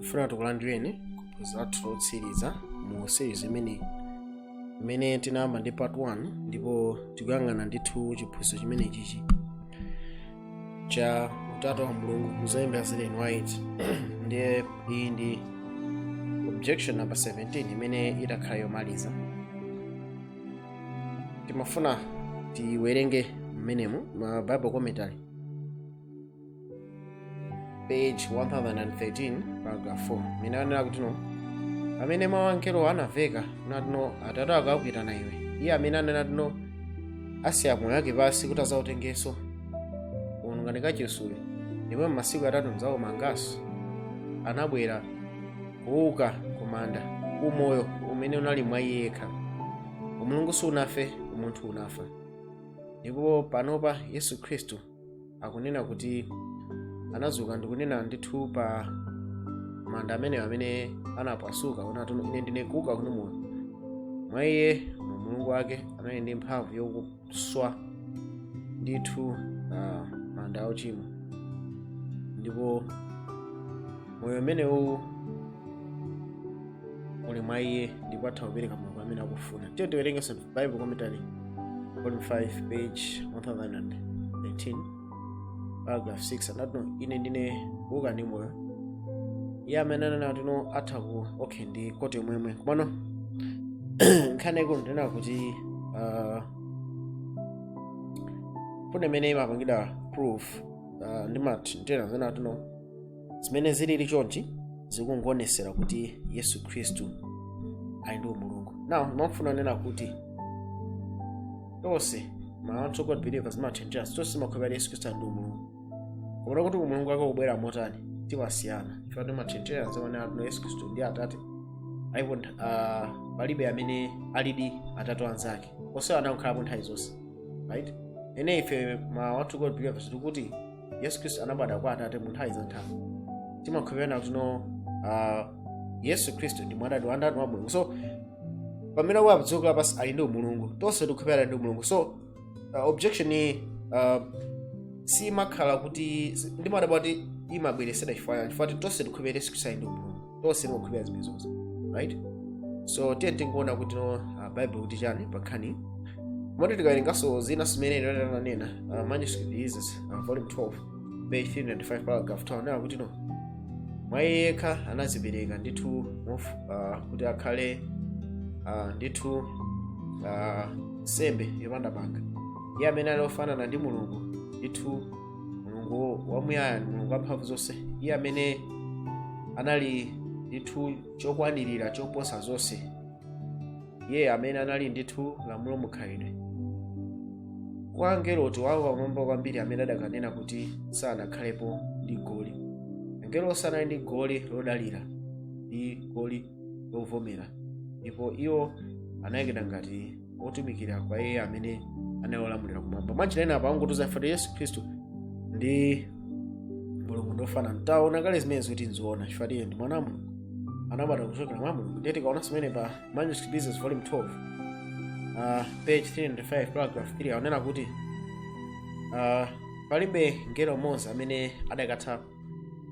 tifuna tikulandireni kuphunzira lathu lotsiriza mu series imeneyi imene tinayamba ndi part 1 ndipo tikuyang'ana ndithu chiphunzitso chimenechichi cha utatu wa mulungu mu zolemba za ellen white ndiye iyi ndi objection number 17 imene itakhala yomaliza timafuna tiwerenge mmenemo ma bible commentary page 1013 paragraph 4 mene anena kuti no pamene mawu angelowo anaveka nati no atate ako akuitana iwe iye amene anena kuti no asiya moyo wake pansi kuti azautengenso gumulani kachisiyu ndipo m'masiku atatu ndzaumanganso anabwera kuuka kumanda umoyo umene unali mwa iye yekha umulungu sunafe umunthu unafa ndipo panopa yesu khristu akunena kuti anazuka ndi kunena ndithu pa manda amenewo amene anapasuka nati ine ndine kuuka ndi moyo mwa iye mu umulungu wake anali ndi mphamvu yokuswa ndithu uh, manda a uchimo ndipo moyo umenewu uli mwa iye ndipo atha kupereka mulungu amene akufuna tiye tiwerengenso bible commentary volume 5 page 1013 paragraph 6 anati no ine ndine kuuka ndi moyo iye amene anena kuti no atha ku okay ndi quote yomweyo komano nkhani yaikulu ndinena kuti uh, mfundo imene imapangidwa proof uh, ndi mati ndinena kuti no zimene zilili chonchi zikungoonetsera kuti yesu khristu ali ndi umulungu now ndimafuna kunena kuti tonse ma one true god believers ma trinitarian tonse timakhulupirira kuti yesu khristu ali ndi umulungu koma kuti umulungu wake ukubwera motani timasiyana chifukwa ma trinitarian nzimene atino yesu khristu ndi atate alipo uh, palibe amene alidi atate a nzake onse anakhalapo nthawi zonse right ene ife ma one true god believers tikuti yesu khristu anabadwa kwa atate mu nthawi za nthawi timakhulupirira kuti no ah, yesu khristu ndi mwana wa ndani wa mulungu so pamene akubwera padziko lapansi ali ndi umulungu tonse tikukhulupirira ali ndi umulungu so ah, objection iyi ah, simakhala kuti ndimadabwa kuti imabweresedwa chifukwa chani chifukwa kuti tonse tikukhulupirira yesu khristu ali ndi umulungu tonse tikukhulupirira zimenezozo right so tiye tingoona kuti no uh, bible ikuti chani pankhani moti tikawerenganso zina zimene ananena uh, manuscript releases uh, volume 12 page 395 paragraph 2 anena kuti no mwa iye yekha anazipereka ndithu mof- ah, kuti akhale ah, ndithu ah, nsembe yopanda banga iye amene ali ofanana ndi mulungu ndithu mulungu wamuyaya mulungu wamphamvu zonse iye amene anali ndithu chokwanirira choposa zonse iye amene anali ndithu lamulo mukhalidwe kwa angelo Tate wawo pamwamba kwambiri amene adakanena kuti sanakhalepo ndi goli angelo sanali ndi goli lodalira ndi goli lovomera ndipo iwo anayikidwa ngati otumikira kwa iye amene anali wolamulira kumwamba mwanjira ina apa angotiuza ife kuti yesu khristu ndi mulungu ndofanana taona kale zimene zoti nzoona chifukwa iye ndi mwana wa mulungu anabadwa kuchokera mwa mulungu ndiye tikaona zimene pa manuscript releases volume 12 uh, page 395 paragraph 3 akunena kuti uh, palibe mngelo mmodzi amene adakatha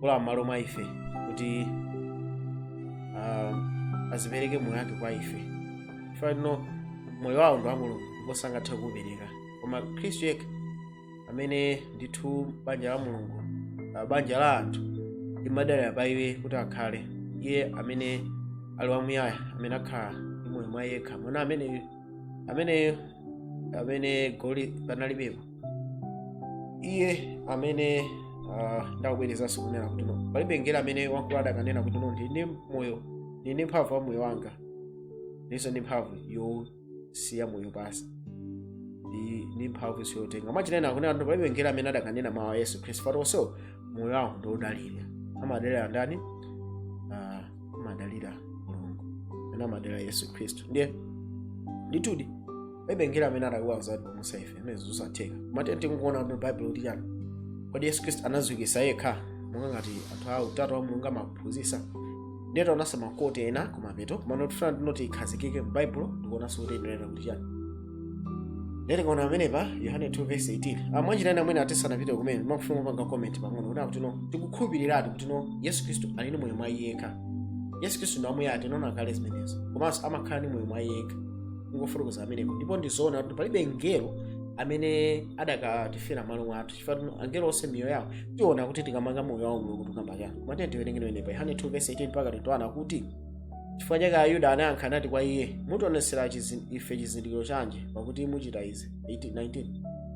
kulowa m'malo mwa ife kuti ah, azapereke moyo wake kwa ife chifukwa choti no moyo wawo ndi wa mulungu ndipo sangathe kuupereka koma khristu yekha amene ndithu banja la mulungu ah, banja la anthu limadalira pa iye kuti akhale iye amene ali wamuyaya amene akhala ndi moyo mwa iye yekha mwana ameneyo ameneyo amene goli panalibepo iye amene ah, ndakubwerezanso kunena kuti no palibe mngelo amene wankulu adakanena kuti no ndili ndi moyo ndili ndi mphamvu ya moyo wanga ndilinso ndi mphamvu yosiya moyo pansi ndi ndi mphamvu yoitenga mwanjira ina akunena kuti palibe mngelo amene adakanena mawu a yesu khristu pakuti onse moyo wawo ndi odalira amadalira ndani Ah, amadalira mulungu amene amadalira yesu khristu ndiye ndithudi palibe mngelo amene adakakwanitsa kutipulumutsa ife amene ndizosatheka koma ndiye tikuona kuti baibulo likuti chani kodi yesu khristu anaziukitsa yekha monga ngati anthu a utatu wa mulungu amaphunzisa ndiye taonanso ma quote ena kumapeto komano tifuna tingoti tikhazikike mu baibulo ndikuonanso kuti inenera kuti chani ndiye tikaona amenepa yohane 2 verse 18 ah mwanjira ina amene tisanapite kumeneko ndimafuna kupanga comment pang'ono kuti akuti no tikukhulupiriratu kuti no yesu khristu ali ndi moyo mwa iye yekha yesu khristu ndi wamuyaya tinaona kale zimenezo komanso amakhala ndi moyo mwa iye yekha tangofotokoza amenepo ndipo ndizoona kuti palibe mngelo amene adakatifera m'malo mwathu chifukwa angelo onse miyoyo yawo tiona kuti ikumanga moyo wawo mulungu tikukamba chani koma tiye tiwerenge amenepa yohane 2 verse 18 mpaka 21 kuti chifukwa chake ayuda anayankha nati kwa iye mutionetsera chizin- ife chizindikiro chanji pakuti muchita izi 18 19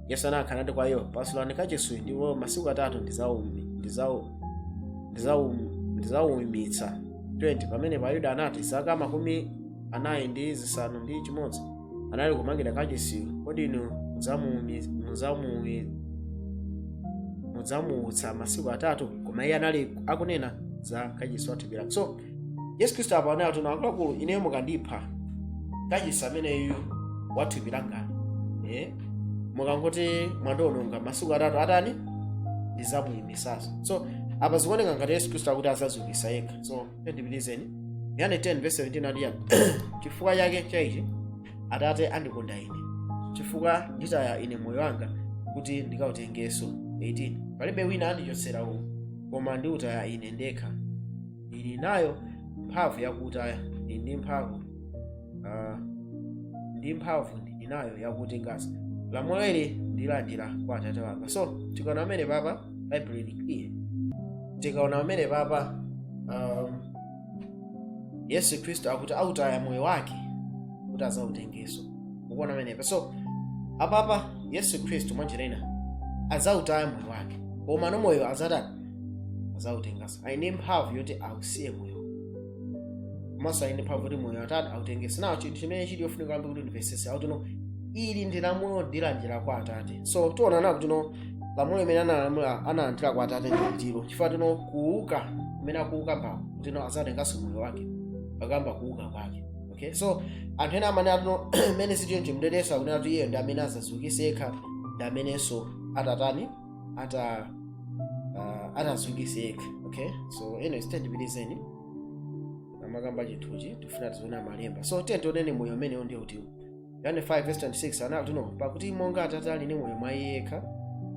yesu anayankha nati kwa iwo pasulani kachisi uyu ndipo masiku atatu ndizaumi ndizawu ndizawumitsa 20 pamenepo ayuda anati zaka makumi anayi ndi zisanu ndi chimodzi anali kumangira kachisiyu kodi inu mudzamuumi- mudzamuumi- mudzamuutsa masiku atatu koma iye anali akunena za kachisi wa thupi lake so yesu khristu apa anati no akuluakulu ineyo mukandipha kachisi ameneyu wa thupi langayi eh? mukangoti mwandiononga masiku atatu atani ndidzamuimitsanso so apa zikuoneka ngati yesu khristu akuti azaziukitsa yekha so ndipitizeni yohane 10 verse 17 ati chani chifukwa chake cha ichi atate andikonda ine chifukwa nditaya ine moyo wanga kuti ndikautengenso 18 palibe wina andichotsera uwu koma ndiutaya ine ndekha ndili nayo mphamvu yakuutaya ndili ndi mphamvu ah, ndi mphamvu ndili nayo yakutenganso lamulo ili ndilandira kwa atate wanga so tikaona pamenepapa bible ili clear tikaona pamenepapa um, yesu khristu akuti autaya moyo wake kuti azautengenso ukuona pamenepa so apapa yesu khristu mwanjira ina azautaya moyo wake komano moyo azatani azautenganso ali ndi mphamvu yoti ausiye moyo komanso ali ndi mphamvu kuti moyo atati autengenso now chinthu chimene chili yofunika kwambiri kuti ndimvetsese akuti no ili ndi lamulo ndilandira kwa atate so tione kuti no lamulo limene analamula analandira kwa atate ndilo chifukwa choti no kuuka kumene akuuka apa kuti no azautenganso moyo wake akukamba kuuka kwake okay so anthu ena amene amati no mmene sichoncho ndiyesa akunena kuti iyeyo ndi amene azaziukitse yekha ndi amenenso atatani ata uh, ataziukitse yekha okay so ndipitilizeni amakamba chinthuchi tifuna tiziona malemba so tiyeni tioneni moyo umenewo ndiye kuti yohane 5 verse 26 anati no pakuti monga atate ali ndi moyo mwa iye yekha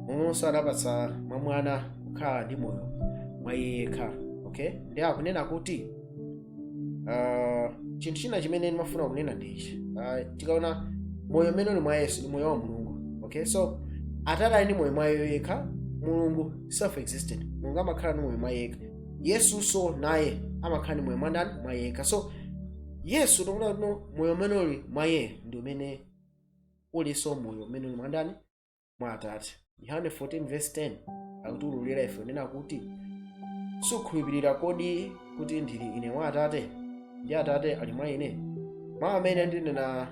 momwenso anapatsa kwa mwana kukhala ndi moyo mwa iye yekha okay ndi akunena kuti Ah, chinthu china chimene ndimafuna kunena ndi ichi Ah, tikaona moyo umene uli mwa yesu ndi moyo wa mulungu okay so atate ali ndi moyo mwa iye yekha mulungu self existent mulungu amakhala ndi moyo mwa iye yekha yesunso naye amakhala ndi moyo mwa ndani mwa iye yekha so yesu tikuona kuti moyo umene uli mwa iye ndi umene ulinso moyo umene uli mwa ndani mwa atate yohane 14 verse 10 akutiululira ife kunena kuti sukhulupirira kodi kuti ndili ine mwa atate ndi atate ali mwa ine mawu amene ndinena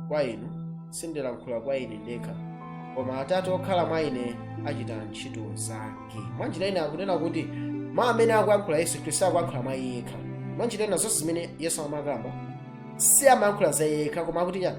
kwa inu sindilankhula kwa ine ndekha koma atate okhala mwa ine achita ntchito zake mwa njira ina akunena kuti mawu amene akuyankhula yesu khristu sakuyankhula mwa iye yekha mwa njira ina zonse zimene yesu amakamba siamayankhula za iye yekha koma akuti chani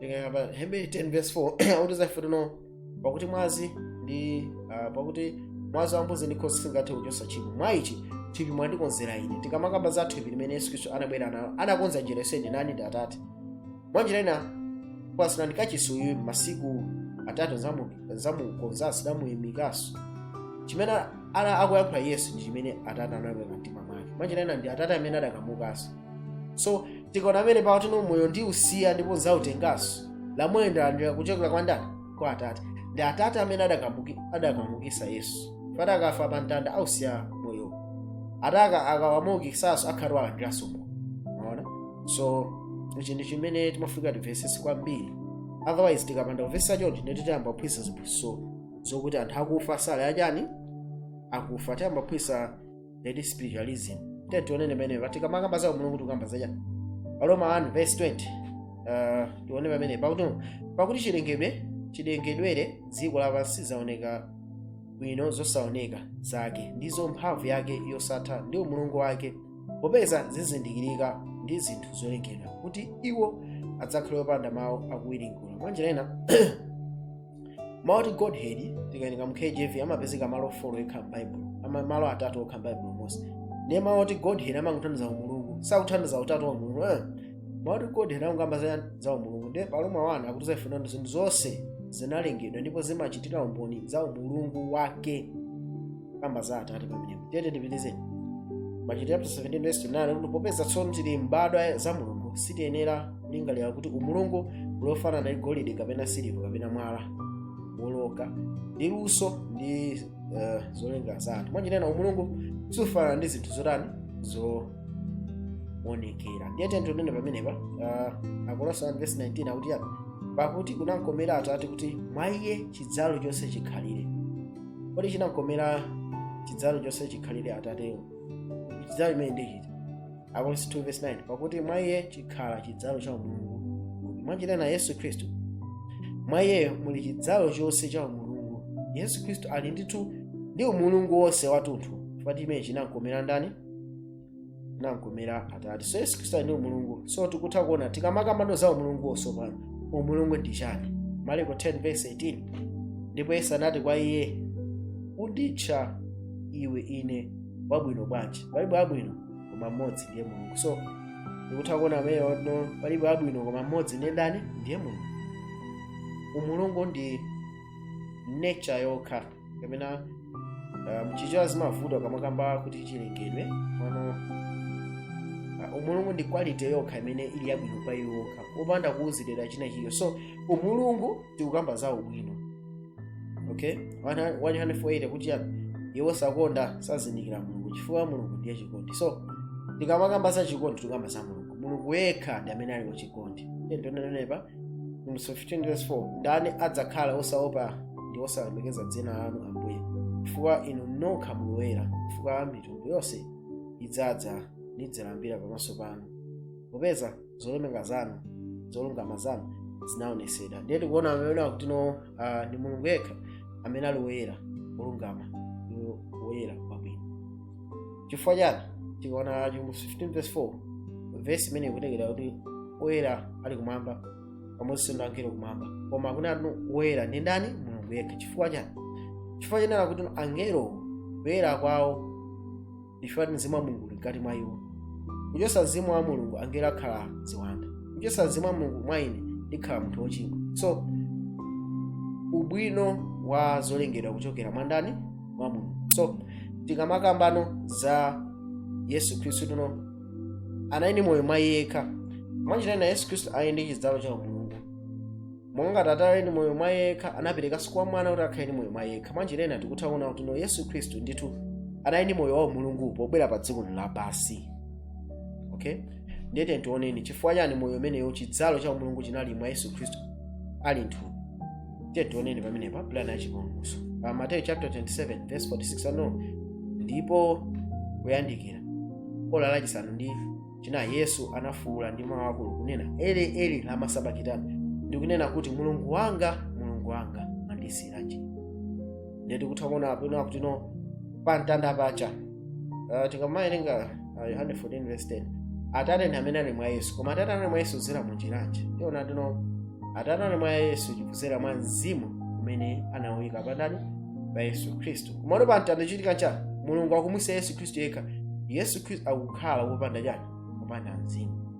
tikaona pa hebrew 10 verse 4 akutiuza ife tino pakuti mwazi ndi ah, pakuti mwazi wa mbuzi ndi nkhosa singathe kuchotsa tchimo mwa ichi thupi mwandikonzera ine tikamakamba za thupi limeneli yesu khristu anabwera nalo anakonza njira yonse ndani ndi atate mwa njira ina pasulani kachisi uyu masiku atatu nzamu- nzamukonza ndidzamuyimikanso chimene akuyankhula yesu ndi chimene atate anabwera mtima mwake mwa njira ina ndi atate amene adakamudzutsanso so tikaona pamene pakuti no moyo ndiusiya ndipo nzautenganso lamulo ndalandira kuchokera kwa ndani kwa atate ndi atate amene adakamuki- adakamuukitsa yesu pamene akafa pa mtanda ausiya moyo ataka akawamuukitsanso akhala alandiranso moyo mwaona so ichi ndi chimene timafunika timvetsetse kwambiri otherwise tikapanda kumvetsa chonchi ndiye tiyamba kuphunzitsa ziphunzitso zokuti anthu akufa sali achani akufa tiyamba kuphunzitsa ndi spiritualism tiye tione pamene pa tikamakamba za umulungu tikukamba za chani aroma 1 verse 20 uh, tione pamene pakuti pakuti chilengedwe chilengedwere dziko lapansi zaoneka bwino zosaoneka zake ndizo mphamvu yake yosatha ndi umulungu wake popeza zizindikirika ndi zinthu zolengedwa kuti iwo adzakhale opanda mawu akuwiringula mwanjira ina mawu oti godhead tikawerenga mu kjv amapezeka malo folo okha m'baibulo ama- malo atatu okha m'baibulo monse ndiye mawu oti godhead amangotanthauza umulungu sakutanthauza utatu wa mulungu eh. mawu oti godhead amakamba za, za umulungu ndiye pa aroma wanu akutiuza ife kuti zinthu zonse zinalengedwa ndipo zimachitira umboni za umulungu wake kamba za atate pamenepo tiyeni tipitizeni machitidwe chapter 17 verse 9 kuti popeza tsono tili mbadwa za mulungu sitiyenera kulingalira kuti umulungu uli wofanana ndi golide kapena siliva kapena mwala wolocha ndi luso ndi uh, zolenga za anthu mwanjira ina umulungu sufanana ndi zinthu zotani zoonekera ndiye tiyeni tinene pamenepa uh, akolose 1 verse 19 akuti chani pakuti kunamkomera atate kuti mwa iye chidzalo chonse chikhalire kodi chinamkomera chidzalo chonse chikhalire atatewo chidzalo chimene ndi chiti akolose 2 verse 9 pakuti mwa iye chikhala chidzalo cha umulungu mwanjira ina yesu khristu mwa iyeyo muli chidzalo chonse cha umulungu yesu khristu ali ndithu ndi umulungu wonse watunthu chifukwa chimene chinamkomera ndani namkomera atate so yesu khristu ali ndi umulungu so tikutha kuona tikamakambano za umulungu tsopano umulungu ndi chani maliko 10 verse 18 ndipo yesu anati kwa iye unditcha iwe ine wabwino bwanji palibe wabwino koma mmodzi ndiye mulungu so tikutha kuona ameyo no palibe wabwino koma mmodzi ndiye ndani ndiye mulungu umulungu ndi nature yokha kapena uh, mchichewa zimavuta kamakamba kuti chilengedwe pano uh, umulungu ndi quality yokha imene ili yabwino pa iyo yokha opanda kuonjezera china chilichonse so umulungu tikukamba za ubwino okay 148 kuti iye wosakonda sazindikira mulungu chifukwa mulungu ndiye chikondi so tikamakamba za chikondi tikukamba za mulungu mulungu yekha ndi amene ali wachikondi nditonenepa Msum 15 verse 4 ndani adzakhala osaopa ndi osalemekeza dzina lanu ambuye chifukwa inu nokha muli woyera chifukwa mitundu yonse idzadza nidzalambira pamaso panu popeza zolemeka zanu zolungama zanu zinaonesedwa ndiye tikuona apa kuti no uh, ndi mulungu yekha amene ali woyera wolungama ndi woyera chifukwa chani tikaona chivumbulutso 15 verse 4 vesi imene ikutiuza kuti oyera ali kumwamba pamodzi ndi angelo kumwamba koma akunena kuti woyera ndi ndani mulungu yekha chifukwa chani chifukwa chonena kuti angelo kuyera kwawo chifukwa kuti mzimu wa mulungu uli mkati mwa iwo kuchotsa mzimu wa mulungu angelo akhala ziwanda kuchotsa mzimu wa mulungu mwa ine ndikhala munthu wochimwa so ubwino wa zolengedwa kuchokera mwa ndani mwa mulungu so tikamakambano za yesu khristu kuti no anali ndi moyo mwa iye yekha mwanjira ina yesu khristu ali ndi chidzalo cha umulungu monga ngati atate ali ndi moyo mwa iye yekha anaperekanso kwa mwana kuti akhale ndi moyo mwa iye yekha mwanjira ina tikutha kuona kuti no yesu khristu ndithu anali ndi moyo wa umulungu pobwera pa dziko lapansi okay ndiyete tioneni chifukwa chani moyo umenewo chidzalo cha umulungu chinali mwa yesu khristu ali mthupi tiye tioneni pamenepa pulani ya chipulumutso pa mateyu chapter 27 verse 46 ano ndipo kuyandikira ola lachisanu ndi chinayi yesu anafuwula ndi mawu akulu kunena eli eli lama sabakitani ndikunena kuti mulungu wanga mulungu wanga mwandisiyiranji ndiye tikutha kuona apano kuti no pa mtanda pacha uh, tikamawerenga uh, yohane 14 verse 10 atate ndi amene ali mwa yesu koma atate anali mwa yesu kudzera mu njira yanji tiona kuti no atate anali mwa yesu chikudzera mwa mzimu umene anawuyika pandani pa yesu khristu komano pa mtanda chikuchitika chani mulungu akumusiya yesu khristu yekha yesu khristu akukhala wopanda chani wopanda mzimu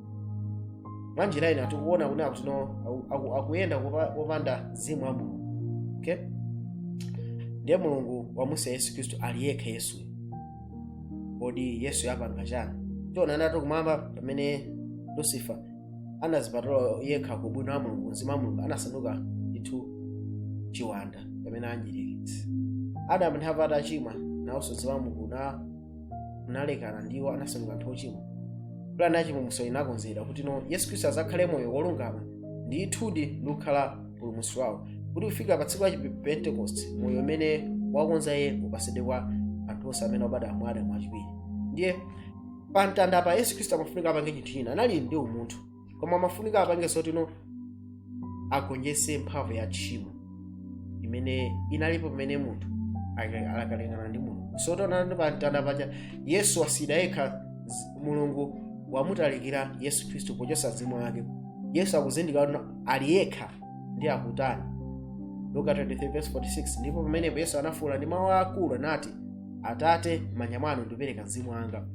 mwa njira ina tikuona kuti akutino aku- aku- akuyenda kupa- popanda mzimu wa mulungu okay? ndiye mulungu wamusiya yesu khristu ali yekha yesuyo kodi yesuyo apanga chani tiona kuti kumwamba pamene lucifer anazipatula yekha ku ubwino wa mulungu mzimu wa mulungu anasanduka ndithu chiwanda pamene anjirikitsi adamu ndi hava atachimwa nawonso mzimu wa mulungu na unalekana ndi iwo anasanduka anthu ochimwa pulani ya chipulumutso inakonzedwa kuti no yesu khristu azakhale moyo wolungama ndithudi ndi kukhala mpulumutsi wawo kuti kufika pa tsiku la chipentekosti moyo umene wakonza iye upasidwe kwa anthu onse amene obadwa mwa adamu wachiwiri ndiye pa mtanda pa yesu khristu amafunika apange chinthu china anali ndi umunthu koma amafunika apange zotino agonjetse mphamvu ya tchimo imene inalipo pamene munthu aka- akalekana ndi mulungu so taonani pa mtanda paja yesu wasiyidwa yekha z- mulungu wamutalikira yesu khristu pochotsa mzimu wake yesu akuzindikira kuti ali yekha ndi akutani luka 23:46 ndipo pamenepo yesu anafuwula ndi mawu aakulu anati atate m'manja mwanu ndikupereka mzimu wanga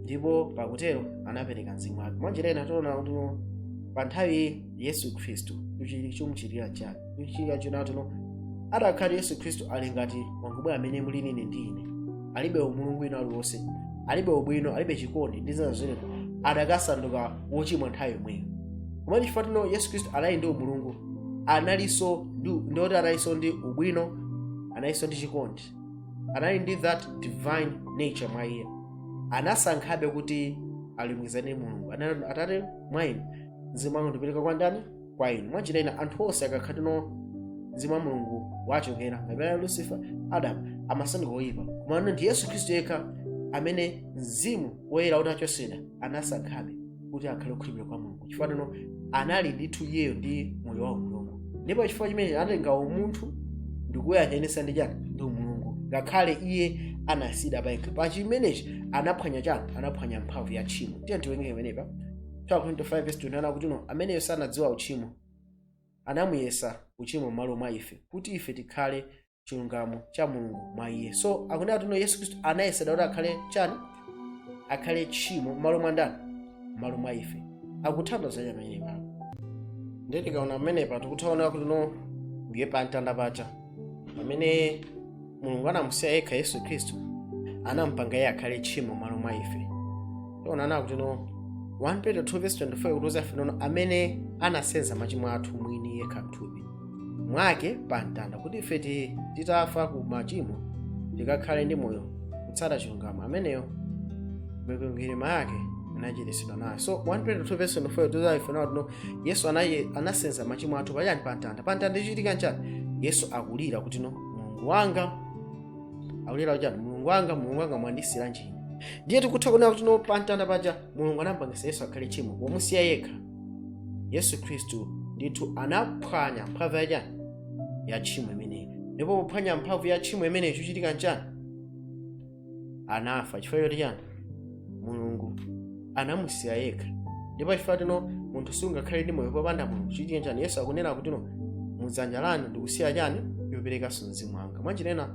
ndipo pakutero anapereka mzimu wake mwanjira ina tiona kuti pa nthawi yesu khristu chomchitira chake chomchitira china tuno adakhala yesu khristu ali ngati wangubwe amene muli inu ndi ine alibe umulungu wina uliwonse alibe ubwino alibe chikondi ndi zina zina adakasanduka wochimwa nthawi yomweyo komatu chifukwa tino yesu khristu anali ndi umulungu analinso ndi- ndoti analinso ndi ubwino analinso ndi chikondi anali ndi that divine nature mwa iye anasankhabe kuti alumikizane mulungu anati atate mwa inu mzimu wanga ndipereka kwa ndani kwa inu mwanjira ina anthu onse akakhatino mzimu wa mulungu wachokera kapena lucifer adamu amasanduka oyipa koma ndi yesu khristu yekha amene mzimu woyera utachotsedwa anasankhabe kuti akhale okhulupirira kwa mulungu chifukwa tino anali ndithu iyeyo ndi moyo wa umulungu ndipo chifukwa chimenechi anatenga umunthu ndikuyanjanisa ndi chani ndi umulungu ngakhale iye anasiyidwa payekha pa chimenechi anaphwanya chani anaphwanya mphamvu ya tchimo tiye tiwerenge pamenepa 2 corinthians 5:21 kuti no ameneyo sanadziwa uchimo anamuyesa uchimo m'malo mwa ife kuti ife tikhale chilungamo cha mulungu mwa iye so akunena kuti no yesu khristu anayesedwa kuti akhale chani akhale tchimo m'malo mwa ndani m'malo mwa ife akutanthauza chani pamenepa ndiye tikaona pamenepa tikutha kuona kuti no ndiye pa mtanda paja pamene mulungu anamusiya yekha yesu khristu anampanga iye akhale tchimo m'malo mwa ife tiona kuti no 1 peter 2 verse 24 ikutiuza ife nono amene anasenza machimo athu mwini yekha mthupi mwake pa mtanda kuti ife ti- titafa ku machimo tikakhale ndi moyo kutsata chilungamo ameneyo mikwingwirima yake inachiritsidwa nayo so 1 peter 2 verse 24 ikutiuza ife nawo tino yesu anaye- anasenza machimo athu pachani pa mtanda pa mtanda ichitika nchani yesu akulira kuti no mulungu wanga akulira kuti chani mulungu wanga mulungu wanga mwandisiyiranji ine ndiye tikutha kuona kuti no pa mtanda paja mulungu anampangisa yesu akhale tchimo pomusiya yekha yesu khristu ndithu anaphwanya mphamvu ya chani ya tchimo imeneyi ndipo pophwanya mphamvu ya tchimo imeneyi chochitika nchani anafa chifukwa choti chani mulungu anamusiya yekha ndipo chifukwa choti no munthu sungakhale ndi moyo popanda mulungu chochitika nchani yesu akunena kuti no mudzanja lanu ndikusiya chani ndoperekanso mzimu wanga mwanjira ina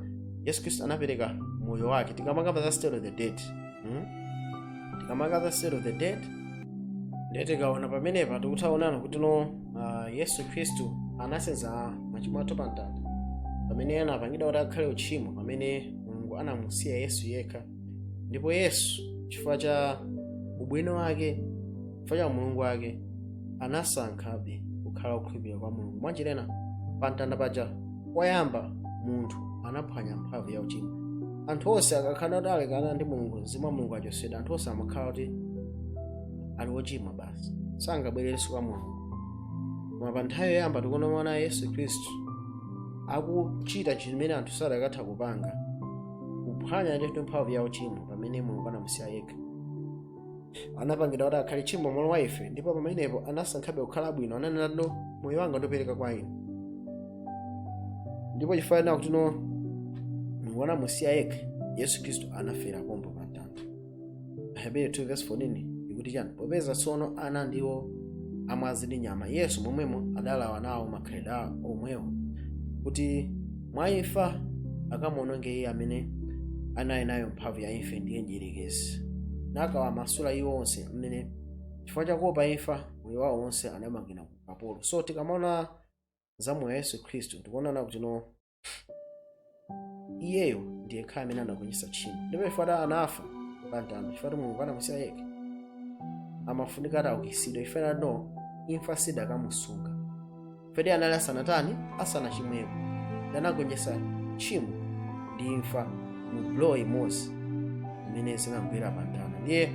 yesu khristu anapereka moyo wake tikamakamba za state of the dead Hmm? tikamakamba za state of the dead ndiye tikaona pamenepa tikutha onana kuti no ah, yesu khristu anasenza machimo athu pa mtanda pamene anapangidwa kuti akhale uchimo pamene mulungu anamusiya yesu yekha ndipo yesu chifukwa cha ubwino wake chifukwa cha umulungu wake anasankhabe kukhala okhulupirika kwa mulungu mwanjira ina pa mtanda paja koyamba munthu anaphwanya mphamvu ya uchimo anthu onse akakhala kuti alekana ndi mulungu mzimu wa mulungu wachotsedwa anthu onse amakhala kuti ali ochimwa basi sangabwererenso kwa mulungu koma pa nthawi yoyamba tikuona no yesu khristu akuchita chimene anthu sadakatha kupanga kuphwanya ndithu mphamvu ya uchimo pamene mulungu anamusiya yekha anapangidwa kuti akhale tchimo mmalo mwa ife ndipo pamenepo anasankhabe kukhala bwino ananena kuti no moyo wanga ndopereka kwa inu ndipo chifukwa chonena kuti no mulungu anamusiya yekha yesu khristu anafera pompo pa mtanda ahebere 2 verse 14 ikuti chani popeza tsono ana ndiwo amwazi ndi nyama yesu momwemo adalawa nawo makhalidwe awo omwewo kuti mwa imfa akamuononge iye amene anali nayo mphamvu ya imfa ndiye mdierekezi nakawamasula iwo onse amene chifukwa chakuopa imfa moyo wawo wonse anamangidwa ukapolo so tikamaona za moyo wa yesu khristu tikuonana kuti no iyeyo ndi yekhayo amene anagonjetsa tchimo ndipo chifukwa choti anafa pamtanda chifukwa choti mulungu anamusiya yekha amafunika ataukitsidwa chifukwa choti no imfa sidakamusunga Chifukwa iye anali asanatani asanachimweko nde anagonjetsa tchimo ndi imfa mu blow imodzi imene zinamugwera pa mtanda ndiye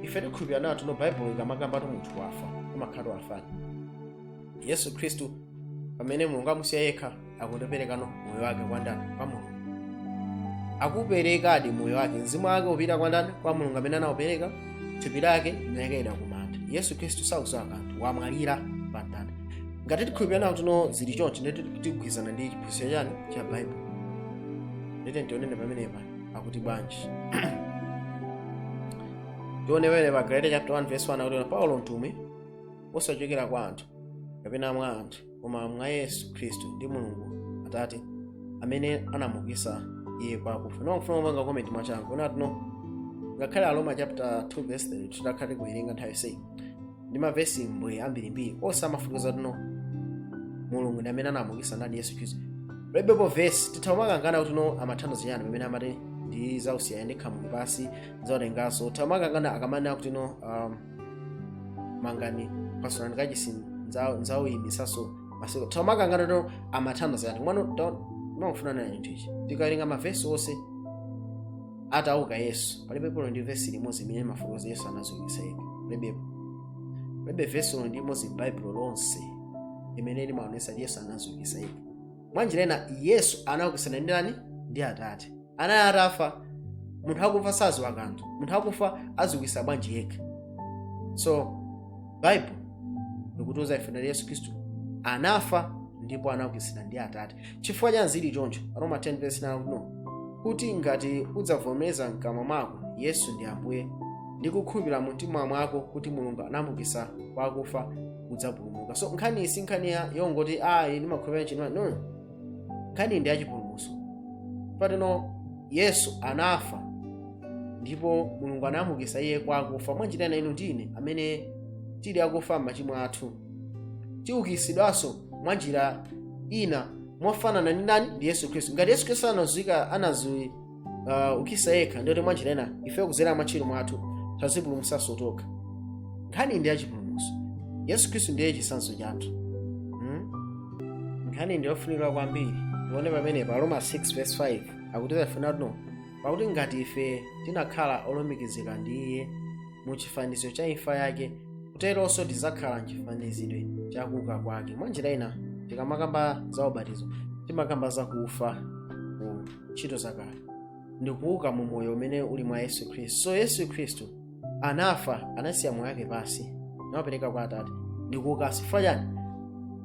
ife tikukhulupirirana kuti no baibulo ikamakamba kuti munthu wafa amakhala wafadi yesu khristu pamene mulungu amusiya yekha akuti ndopereka moyo wake kwa ndani kwa mulungu akuperekadi moyo wake mzimu wake ukupita kwa ndani kwa mulungu amene anaupereka thupi lake lakayikidwa ku manda yesu khristu sakudziwa kanthu wamwalira pa mtanda ngati tikukhulupirirana kuti no zili chonchi ndeti tikugwirizana ndi chiphunzitso cha chani cha baibulo nde tiyeni tionene pamenepa akuti bwanji tione pa galatiya chapter 1 verse 1 akuti paulo mtumwi osachokera kwa anthu kapena mwa anthu koma mwa yesu khristu ndi mulungu atate amene anamuukitsa iye kwa akufa ndikufuna kupanga komenti mwachangu ona tino ngakhale aroma chapter 2 verse 3 titakhale kuwerenga nthawi yonseyi ndi mavesi mbwe ambirimbiri onse amafotokoza tino mulungu ndi amene anamuukitsa ndani yesu khristu palibepo vesi titha kumakangana kuti no amatanthauza chiyani pamene amati ndizausiya ndi khamu ndi pansi zautenganso titha kumakangana akamanena kuti no um, mangani pasulani kachisi nzauyimitsanso masiku titha kumakangana kuti amatanthauza chani mwano makufunana na chinthu ichi tikawerenga mavesi onse atauka yesu palibepo olo ndi vesi limodzi imene imafotokoza yesu anaziukisa yekha palibepo palibe vesi olo ndi limodzi m'baibulo lonse limene limaonesa yesu anaziukisa yekha mwa njira ina yesu anaukisidwa ndi ndani ndi atate anali atafa munthu akufa saziwa kanthu munthu akufa aziukisa bwanji yekha so baibulo likutiuza ife nali yesu khristu anafa ndipo anaukisidwa ndi atate chifukwa chani zili choncho roma 10 verse 9 no kuti ngati udzavomereza mkamwa mwako yesu ndi ambuye ndi kukhulupirira mu mtima mwako kuti mulungu anamuukisa kwa akufa udzapulumuka so nkhaniyi si nkhani ya- yongoti ayi ndimakhulupirira chino no nkhani ndi yachipulumutso patino yesu anafa ndipo mulungu anamuukisa iye kwa akufa mwanjira ina inu ndi ine amene tili akufa m'machimo athu tiukisidwanso mwanjira ina mofanana ndi ndani ndi yesu khristu ngati yesu khristu anazika anazi uh, ukisa yekha ndiye kuti mwanjira ina ifeyo kudzera muntchito mwathu tazipulumutsanso tokha nkhani ndi yachipulumutso yesu khristu ndiye chitsanzo chathu hmm? nkhani ndi yofunika kwambiri tione pamene pa roma 6 verse 5 akutiuza ife na tino pakuti ngati ife tinakhala olumikizika ndi iye mu chifaniziro cha imfa yake kuteronso tidzakhala mchifanizidwe cha kuuka kwake mwanjira ina tikamakamba za ubatizo timakamba za kufa ntchito zakale ndi kuuka mu moyo umene uli mwa yesu khristu so yesu khristu anafa anasiya moyo wake pansi naupereka kwa atate ndi kuukanso chifukwa chani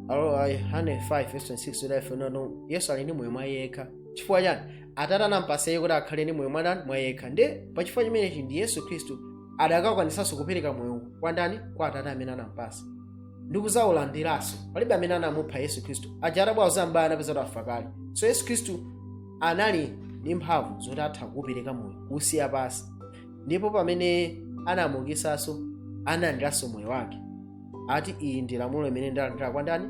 Alo- a yohane 5 verse 26 kuti ife nono yesu ali ndi moyo mwa iye yekha chifukwa chani atate anampasa iye kuti akhale ndi moyo mwa ndani mwa iye yekha nde pachifukwa chimenechi ndi yesu khristu adakakwanisanso kupereka moyo kwa ndani kwa atate amene anampasa ndi kuzaulandiranso palibe amene anamupha yesu khristu aja atabwera kuzambaya anapeza kuti wafa kale so yesu khristu anali ndi mphamvu zoti atha kuupereka moyo kuusiya pansi ndipo pamene anamuukisanso analandiranso moyo wake ati iyi ndi lamulo imene ndalandira kwa ndani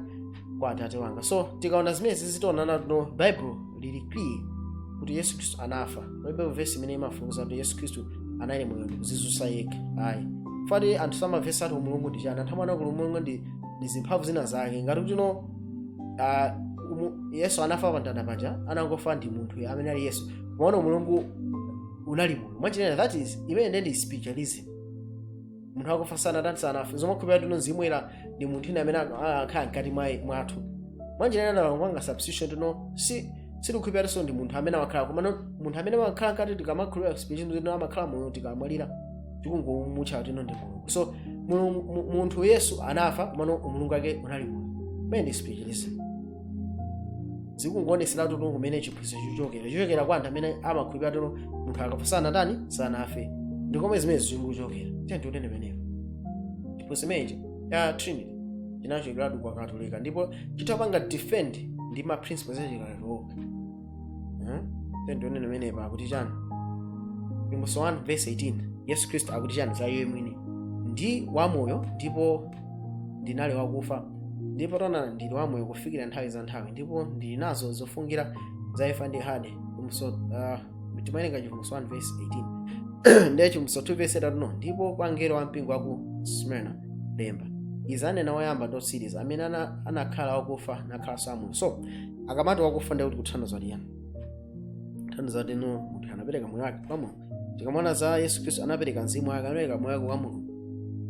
kwa atate wanga so tikaona zimenezi tiona na tino baibulo lili clear kuti yesu khristu anafa palibe vesi imene imafotokoza kuti yesu khristu anali moyo ndikuzizutsa yekha ayi koma anthu samamvetsa kuti umulungu ndi chani anthu amaona kuti umulungu ndi ndi zimphamvu zina zake ngati kuti no ah, umu- yesu anafa pa mtanda paja anangofa ndi munthu yemwe amene ali yesu komano umulungu unali moyo mwanjira ina that is imene ndi spiritualism munthu akafa sanatani sanafe amakhulupirira kuti no mzimu ndi munthu wina amene anu- a- akhala mkati mwa- mwathu mwanjira ina ndalangwanga spiritualism kuti no si sitikhulupirira kuti no ndi munthu amene amakhala koma no- munthu amene amakhala mkati tikamakhulupirira spiritualism kuti no amakhala moyo tikamwalira tikungomutcha kuti no ndi mulungu so mulungu- mu- munthu yesu anafa komano umulungu wake unali moyo imene ndi spiritualism zikungoonetseratu kuti no kumene chiphunzitso chachokera chachokera kwa anthu amene amakhulupirira kuti no munthu akafa sanatani sanafe ndi komwe zimene zikuchokera tiyeni tione pamenepo chiphunzitso chimenechi cha trinity chinachokeratu kwa katolika ndipo chitha kupanga defend ndi ma principles achikatolika Eh? Tiyeni tione pamenepa akuti chani Chivumbulutso 1 verse 18 yesu khristu akuti chani za iye mwini ndi wamoyo ndipo ndinali wakufa ndipo taonani ndili wamoyo kufikira nthawi za nthawi ndipo ndili nazo zofungulira za imfa ndi hade Chivumbulutso, ah, timawerenga Chivumbulutso 1 verse 18 ndiye Chivumbulutso 2 verse 8 ndipo kwa mngelo wa mpingo wa ku smyrna lemba izi anena woyamba ndi wotsiriza amene ana- anakhala wakufa nakhalanso wamoyo so akamati wakufa ndiye kuti kutanthauza chiyani kutanthauza kuti no munthu anapereka moyo wake kwa mulungu tikamaona za yesu khristu anapereka mzimu wake anapereka moyo wake kwa mulungu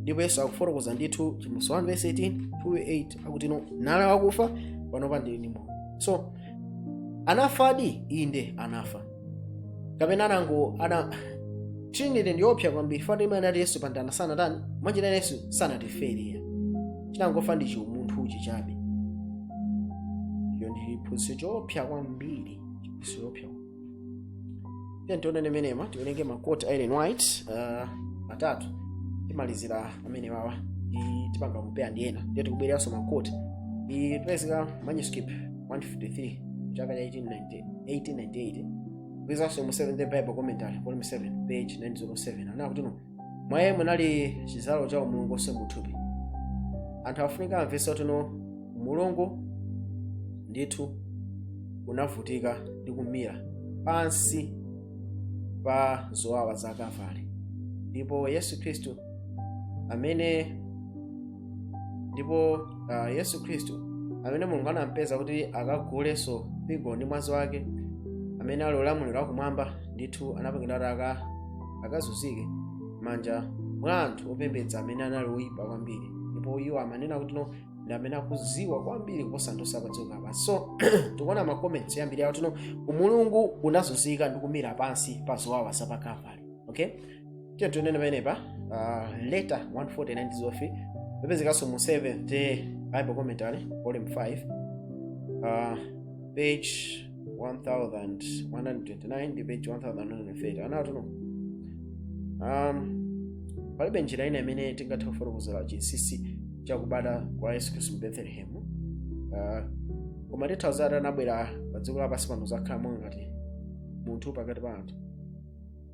ndipo yesu akufotokoza ndithu Chivumbulutso 1 verse 18 28 akuti no ndinali wakufa panopa ndili ndi moyo so anafadi inde anafa kapena anango ana trinity ndi yoopsa kwambiri chifukwa imanena kuti yesu pamtanda sanatani mwanjira ina yesu sanatifere chinangofa ndi chiumunthu ichi chabe iyo ndi chiphunzitso choopsa kwambiri chiphunzitso choopsa tiyeni tione pamenepa tiwerenge makoti a ellen white uh, atatu timalizira amene awawa ndiye tipanga compare ndi ena ndiye tikubwereranso makoti ndi ikupezeka manuscript 153 chaka cha 1890 1898 ikupezekanso mu 7 the bible commentary volume 7 page 907 anena kuti no mwa iye munali chidzalo cha umulungu onse muthupi anthu akufunika amvetse kuti no umulungu ndithu unavutika ndi kumira pansi pa zowawa za kalvari ndipo yesu khristu amene ndipo uh, yesu khristu amene mulungu anampeza kuti akagulenso mpingo ndi mwazi wake amene ali ulamuliro wakumwamba ndithu anapangidwa kuti aka akazunzike manja mwa anthu opembedza amene anali oyipa kwambiri ndipo iwo amanena kutino ndi amene akuziwa kwambiri kuposa anthu onse apadziko lapansi so tikuona macomments yoyambirirayo kutino umulungu unazunzika ndi kumira pansi pa zowawa za pa kalvari okay tiye tione pamenepa uh, letter 149 zofi ipezekanso mu 7th bible commentary volume 5 uh, page 1129 ndi page 1130 anatino um, palibe njira ina imene tingathe kufotokozera chinsinsi chakubadwa kwa yesu khristu mu bethlehemu uh, koma titha uzati anabwera pa dziko lapansi pano zakhala monga ngati munthu pakati pa anthu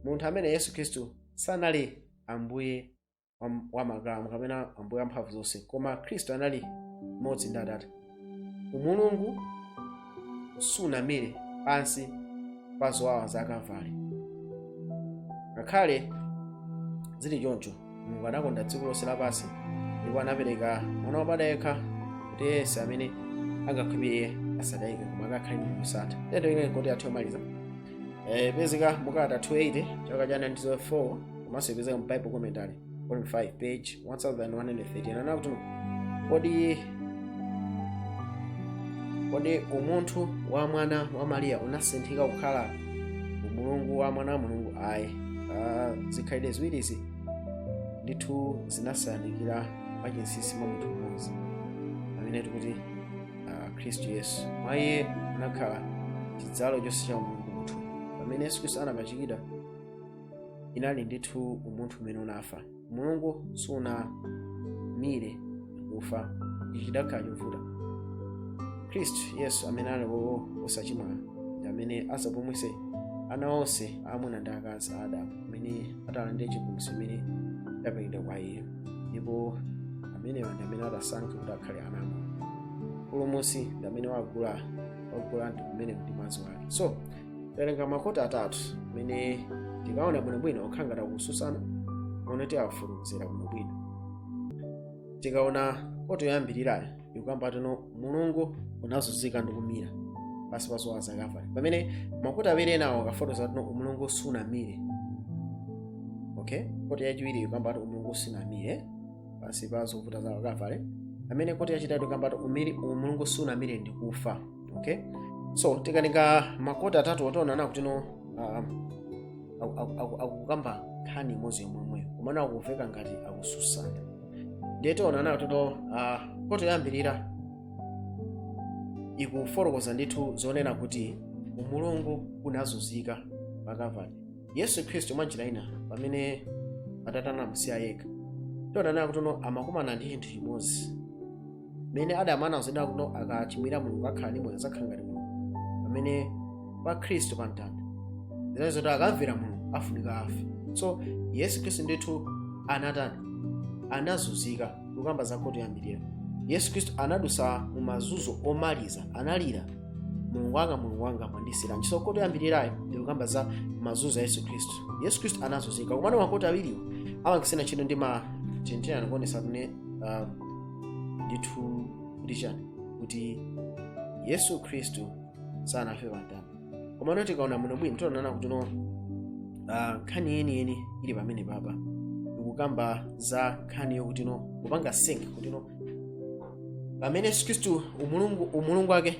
munthu amene yesu khristu sanali ambuye wa- wa makamu kapena ambuye wa mphamvu zonse koma khristu anali mmodzi ndi atate umulungu sunamire pansi pa zowawa za kavale ngakhale zili choncho mulungu anakonda dziko lonse lapansi ndipo anapereka mwana wobadwa yekha kuti yense amene angakhulupirire iye asatayike koma akakhale ndi moyo wosatha tiye tione kote yathu yomaliza ipezeka mu kalata 280 chaka cha 1904 komanso ipezeka mu bible commentary volume 5 page 1113 anena kuti kodi kodi umunthu wa mwana wa mariya unasinthika kukhala umulungu wa mwana wa mulungu ayi Ah, zikhalidwe ziwirizi ndithu zinasakanikira mwachinsinsi mwa munthu mmodzi amene tikuti ah, khristu yesu mwa iye munakhala chidzalo chonse cha umulungu munthu pamene yesu khristu anapachikidwa inali ndithu umunthu umene unafa umulungu sunamire kufa ichi chidakhala chovuta khristu yesu amene ali wowo osachimwa ndi amene adzapulumutse ana onse aamuna ndi akazi a adamu amene atalandire chipulumutso imene idapangidwa kwa iwo ndipo amenewa ndi amene atasankhe kuti akhale ana ake mpulumutsi ndi amene wagula wagula ndi kumene ndi mwazi wake so tawerenga makote atatu amene tikaona bwinobwino okhala ngati akususana koma tiafotokozera bwinobwino tikaona kote yoyambirirayo ikukamba kutino umulungu unazunzika ndi kumira pansi pa zowawa za kavale pamene makote awiri enawo akufotokoza kutino umulungu sunamire okay kote yachiwiri ikukamba ati umulungu sunamire pansi pa zovuta za kavale pamene kote yachitatu ikukamba ati umiri umulungu sunamire ndi kufa okay so tikawerenga makoti atatuwo tionana kuti no um, aku- aku- aku- akukamba nkhani imodzi yomwemweyo komano akuveka ngati akususana ndiye tionana kuti no uh, koti yoyambirira ikufotokoza ndithu zonena kuti umulungu unazunzika pa kavale yesu khristu mwa njira ina pamene atate anamusiya yekha tionana kuti no amakumana ndi chinthu chimodzi mmene adamu anauzidwa kuti akachimwira mulungu akhala ndi moyo azakhala ngati mulungu pamene pa khristu pa mtanda zinali zoti akamvera mulungu afunika afe so yesu khristu ndithu anatani anazunzika kukamba za koti yoyambirira yesu khristu anadusa mu mazunzo omaliza analira mulungu wanga mulungu wanga mwandisiyiranji so koti yoyambirirayo ikukamba za mazunzo a yesu khristu yesu khristu anazunzika komano makoti awiriwo amakisiyana ntchito ndi ma tintina ndikuonesa kuti uh, ndithu kuti chani kuti yesu khristu sanafe pa mtanda komano tikaona bwinobwino tionana kuti no ah, nkhani yeniyeni ili pamenepapa ikukamba za nkhani yokuti no kupanga sink kuti no pamene yesu khristu umulungu umulungu wake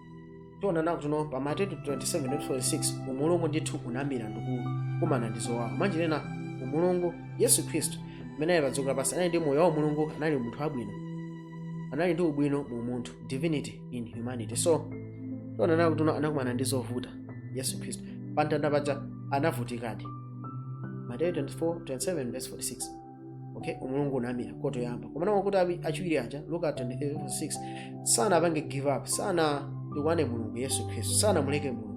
tionana kuti no pa mateyu 27:46 umulungu ndithu unamira ndikukumana ndi zowawa mwa njira ina umulungu yesu khristu amene ali padziko lapansi anali ndi moyo wa umulungu anali munthu wabwino anali ndi ubwino mu umunthu divinity in humanity so tionana kuti no anakumana ndi zovuta yesu khristu pamtanda paja anavutikadi mateyu 24:27:46 okay umulungu unamira koti yoyamba komano makoti awi- achiwiri aja luka 23:6 sanapange give up sanatukwane mulungu yesu khristu sanamuleke mulungu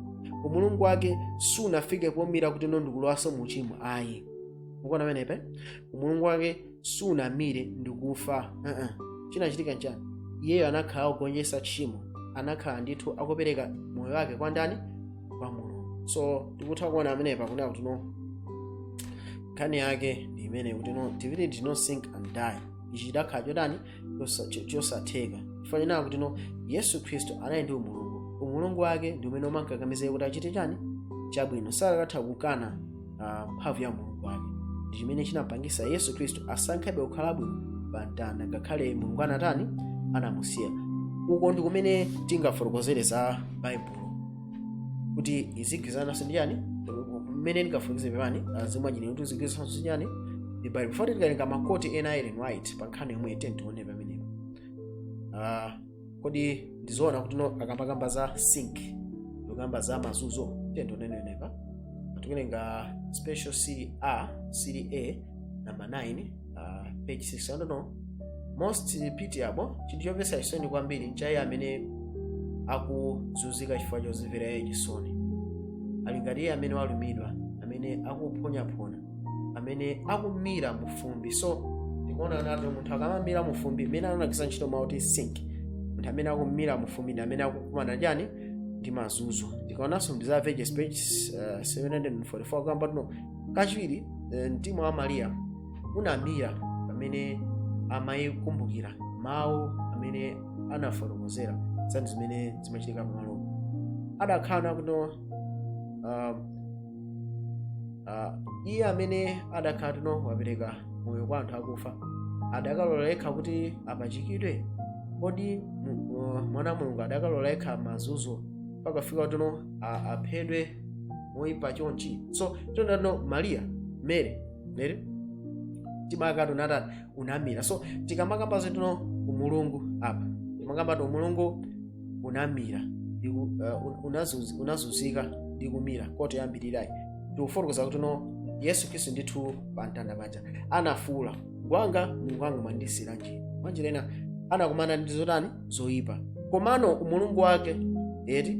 umulungu wake sunafike pomira kuti no ndikulowaso mu uchimo ayi mukuona pamenepa umulungu wake sunamire ndikufa uh-uh. chinachitika nchani iyeyo anakhala akugonjesa tchimo anakhala ndithu akupereka moyo wake kwa ndani kwa mulungu so tikutha kuona pamenepa kunena kuti no nkhani yake ndi imene kuti no divinity did not sink and die ichi chidakhala chotani chosa- cho- chosatheka chifukwa chani kuti no yesu khristu anali ndi umulungu umulungu wake ndi umene umankakamiza kuti achite chani chabwino sakatha kukana ah, mphamvu ya umulungu wake ndi chimene chinapangisa yesu khristu asankhebe kukhalabe pa mtanda ngakhale mulungu anatani anamusiya uko ndi kumene tingafotokozere za baibulo kuti izigwirizananso ndi chani mmene ndikafunikise pepani azimwajini kuti izigwirizananso ndi chani ndi bible before tikawerenge makoti ena ellen white pa nkhani yomweyi tiye tione pamenepo Ah, kodi ndizoona kuti no akamakamba za sink akukamba za mazunzo tiyeni tione pamenepa tikuwerenga special se- series a number 9 uh, page 6 I don't know most pitiable chinthu chomvetsa chisoni kwambiri ndi cha iye amene akuzunzika chifukwa chozimvera iye chisoni ali ngati amene walumidwa amene akuphonyaphona amene akumira mufumbi so tikuona kuti munthu akamamira mufumbi mmene anagwiritsa ntchito mawu oti sink munthu amene akumira mufumbi ndi amene akukumana chani ndi mazunzo tikaonanso mu desire of ages page uh, 744 akamba kuti no kachiwiri eh, mtima wa mariya unamira pamene amayikumbukira mawu amene anafotokozera zani zimene zimachitika pamalo adakhala akuti no uh, uh, iye amene adakhala kuti no wapereka moyo kwa anthu akufa adakalola yekha kuti apachikidwe kodi mu- uh, mwana wa mulungu adakalola yekha mazunzo mpaka kufika poti no a- aphedwe moyipa chonchi so chonano mariya mary mary mtima wake unatani unamira so tikamakamba zoti no umulungu apa sitimakamba kuti umulungu unamira ndi ku- uh, un- unazunzi- unazunzika ndi kumira koto yambirirayi tikufotokoza kuti no yesu khristu ndithu pa mtanda paja anafuula mulungu wanga mulungu wanga mwandisiyiranji mwanjira ina anakumana ndi zotani zoyipa komano umulungu wake eti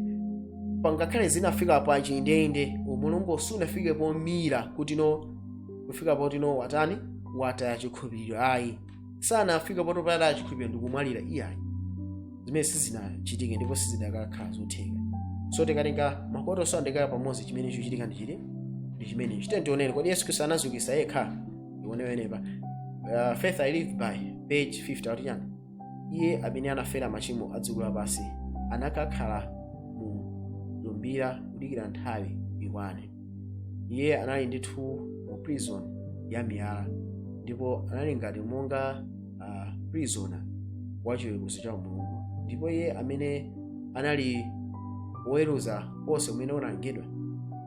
ngakhale zinafika pachindeinde umulungu sunafike pomira kuti no kufika poti no watani wataya chikhulupiriro ayi sanafika poti wataya chikhulupiriro ndikumwalira iyayi zimenezi sizinachitike ndipo sizidakakhala zotheka so tikatenga makoto so ndikuwayika pamodzi chimene chochitika ndi chili ndi chimene chiteni tionene kodi yesu khristu anadziukitsa yekha ionewenepa uh, faith i live by page 50 akuti chani iye amene anafera machimo a dziko lapansi anakakhala mu mtumbira kudikira nthawi ikwane iye anali ndithu mu prison ya miyala ndipo anali ngati monga uh, prisoner wa chiweruzo cha mulungu ndipo iye amene anali woweruza wonse umene unalengedwa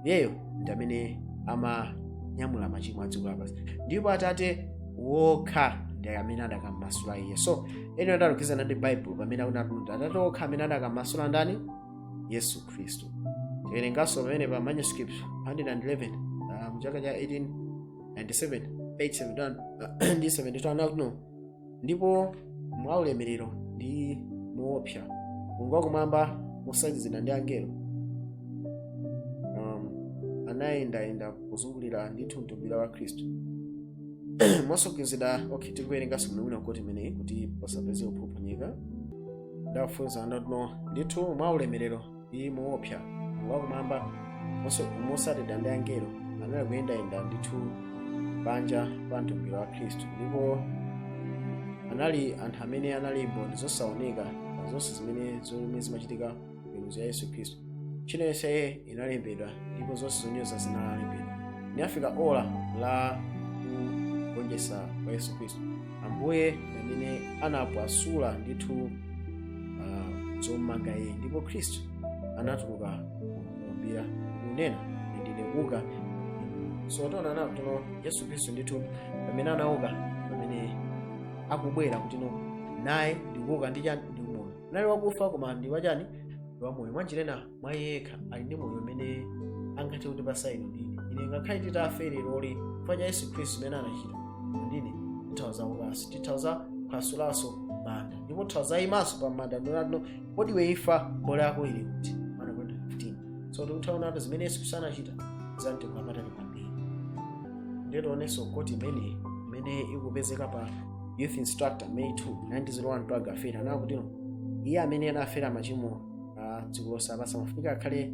iyeyo ndi amene amanyamula machimo a dziko lapansi ndipo atate wokha ndi amene adakammasula iye so ellen akugwirizana ndi bible pamene akuti atate okha amene adakammasula ndani yesu khristu tiwerenganso pamene pa manuscript 111 uh, mchaka cha 1897 page 71 ndi 72 akuti no ndipo mwa ulemerero ndi muopsa mulungu wakumwamba motsagizidwa ndi angelo um, anayendayenda kuzungulira ndithu mtumbira wa khristu mwasokonzedwa okay tikuwerenganso muno wina quote imeneyi kuti pasapeze kuphophonyeka ndafunsa ndotino ndithu mwa ulemerero iyi muopsa wakumwamba motsatidwa ndi angelo anali kuyendayenda ndithu panja pa mtumbira wa khristu ndipo anali anthu amene anali mboni zosaoneka zonse zimene zomwe zimachitika miweruzo ya yesu khristu ntchito yonse ya iye inalembedwa ndipo zonse zonyoza zinalembedwa linafika ola la kugonjetsa kwa yesu khristu ambuye pamene anaphwasula ndithu uh, zommanga iye ndipo khristu anatuluka kumtumbira kunena ndine kuuka so tiona nawo kuti no yesu khristu ndithu pamene anauka pamene akubwera kuti no naye ndi kuuka ndi chani anali wakufa koma ndi wachani ndi wamoyo mwanjira ina mwa iye yekha ali ndi moyo umene angathe kutipatsa inu ndi ine ngakhale titafe lero lino chifukwa cha yesu khristu zimene anachita ndine titha kuzaukanso titha kuzaphwasulanso manda ndipo titha kuzaimanso pa manda ndi kunena kuti no kodi iwe imfa mbola yako ili kuti 1 akorinto 15 so tikutha kuonatu zimene yesu khristu anachita zamtengo wapatali kwambiri ndiye tionenso quote imeneyi imene ikupezeka pa youth instructor may 2 1901 paragraph 8 anena kuti no iye amene anafera machimo a dziko lonse lapansi amafunika akhale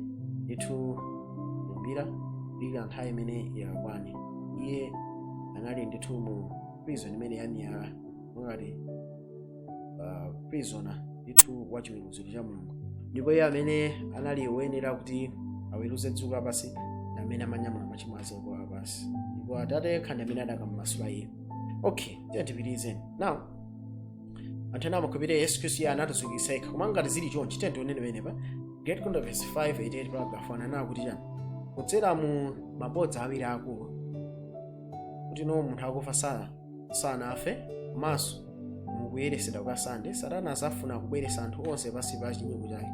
ndithu kumtumbira kudikira nthawi imene yakwane iye anali ndithu mu prison imene yamiyala ngati uh, prisoner ndithu wa chiweruziro cha mulungu ndipo iye amene anali woyenera kuti aweruze dziko lapansi ndi amene amanyamula machimo a dziko lapansi ndipo atate yekha ndi amene adakamumasula iye okay tiye tipitirize now anthu ena amakhulupirira yesu khristu iye anaziukisa yekha koma ngati zili chonchi tiye tione penepa great controversy 588 paragraph 1 anena kuti chani kudzera mu mabodza awiri akulu kuti no munthu akufa sana sanafe komanso mukuyeresedwa kwa sunday satana azafuna kubweresa anthu onse pansi pa chinyengo chake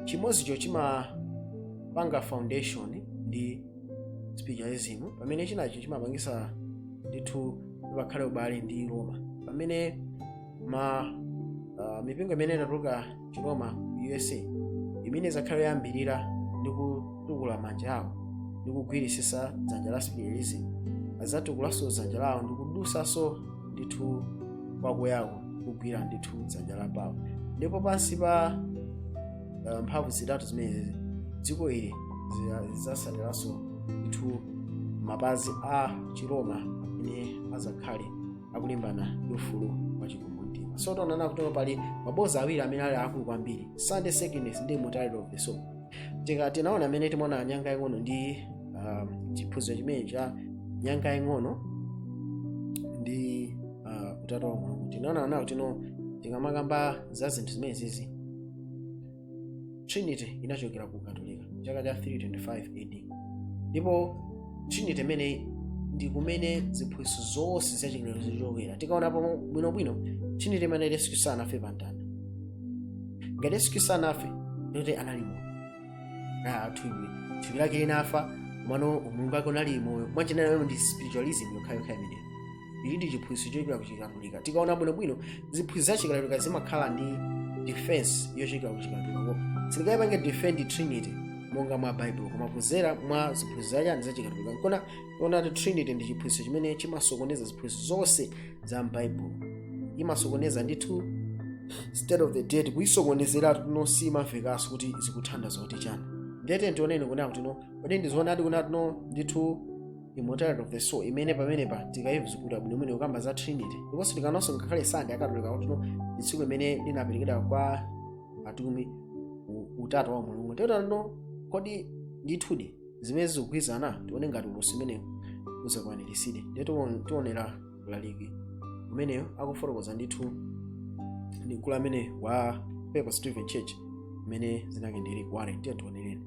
chimodzicho chimapanga foundation ndi spiritualism pamene chinacho chimapangisa ndithu pakhale ubale ndi roma pamene ma uh, mipingo imene inatuluka chiroma ku usa imene izakhale yoyambirira ndi kutukula manja awo ndi kugwirisisa dzanja la spiritualism azatukulanso dzanja lawo ndi kudusanso ndithu kwakuyako kugwira ndithu dzanja la pawo ndipo pansi pa uh, mphamvu zitatu zimenezi dziko iri zia- zidzasaliranso ndithu mapazi a chiroma amene azakhale akulimbana ndi ufulu wa chikumbumtima so tonana kutono pali mabodza awiri amene ali akulu kwambiri sunday sacredness ndi immortality of the soul tika tinaona amene timaona nyanga yang'ono ndi um, chiphunzitso chimene cha nyanga yang'ono ndi uh, utatu wa mulungu tinaona nawo tino tikamakamba za zinthu zimenezizi trinity inachokera ku katolika chaka cha 325 ad ndipo trinity imene ndi kumene ziphunzitso zonse za chilero zichokera tikaona pamo bwinobwino trinity imene yesu khristu anafe pa mtanda ngati yesu khristu anafe ndikuti anali moyo Ah, thupi thupi lake linafa komano umulungu wake unali moyo mwanjira ina ndi spiritualism yokhayokha imeneyo ichi ndi chiphunzitso chochokera ku chikatolika tikaona bwinobwino ziphunzitso za chikatolika zimakhala ndi defense yochokera ku chikatolika ko singayipange defend trinity monga mwa baibulo koma kuzera mwa ziphunzitso zachani za chikatolika nkona tiona kuti trinity ndi chiphunzitso chimene chimasokoneza ziphunzitso zonse za mbaibulo imasokoneza ndithu state of the dead kuyisokonezera tuno simamvekanso kuti zikutanthauza kuti chani ndiyeno tioneni kunena kuti no kodi ndizoonadi kunena tuno ndithu immortality of the soul imene pamenepa tikayizukuta bwinobwino kukamba za trinity ndiponso tikaonanso ngakhale sande akatolika kutino ndi tsiku limene linaperekedwa kwa atumwi u- utatu wa mulungu totano kodi ndithudi zimene zikugwirizana tione ngati ulosi umenewu uzakwaniritsidwe ndiye tiwon- tionera mlaliki ameneyo akufotokoza ndithu ndi mkulu amene wa papa stephen church imene zinake ndili kuwale ndiye tionereni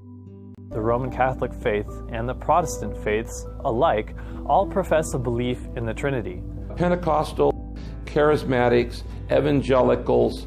The Roman Catholic faith and the Protestant faiths alike all profess a belief in the Trinity. Pentecostal, charismatics, evangelicals,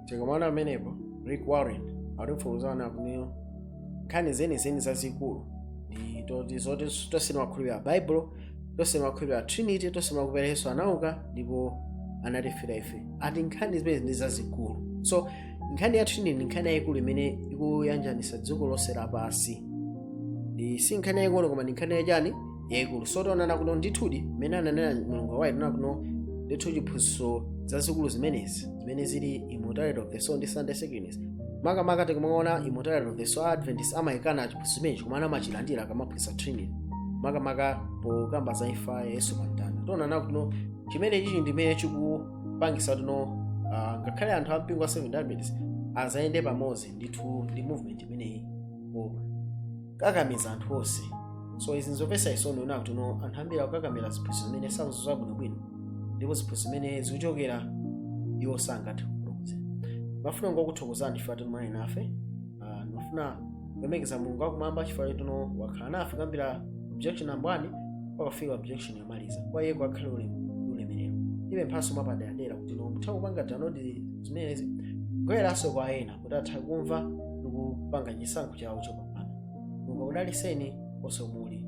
tikumuona amenepo rick warren akutifotokozera kuti nkhani zenizeni zazikulu ndi toti zoti tonse timakhulupirira baibulo tonse timakhulupirira trinity tonse timakhulupirira yesu anauka ndipo anatifera ife ati nkhani zimenezi ndi zazikulu so nkhani ya trinity ndi nkhani yayikulu imene ikuyanjanitsa dziko lonse lapansi ndi si nkhani yaying'ono koma ndi nkhani yachani yaikulu so tionana kuno ndithudi mmene ananena ellen g white tiona kuno ndithu chiphunzitso zazikulu zimenezi zimene zili immortality of the soul ndi sunday sacredness makamaka tikumaona immortality of the soul adventist amachikana chiphunzitso chimenechi koma amachilandira akamaphunzitsa trinity makamaka pokamba za imfa ya yesu pa mtanda tionana kuno chimene chichichi ndimene chikupangitsa tino uh, ngakhale anthu ampingo wa seventh-day adventist azayende pamodzi ndithu ndi movement imeneyi koma kakamiza anthu onse so izi nzopetsa chisoni kuona kuti no anthu ambiri akukakamira ziphunzitso zimene sakuzidziwa bwinobwino ndipo ziphunzitso zimene zikuchokera iwo sangathe kuphunzitsa ndimafuna kungokuthokozani chifukwa chotino munali nafe Ah, ndimafuna kulemekeza mulungu wakumwamba chifukwa chotino wakhala nafe kuyambira objection number one mpakafika objection yomaliza kwa iye kukakhale ulemu ulemerero ndibe mphatso mwapaderadera kuti no mutha kupanga download zimenezi kugawiranso kwa ena kuti athe kumva ndi kupanga chisankho chawo chopambana mulungu akudalitseni konse muli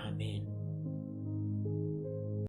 amen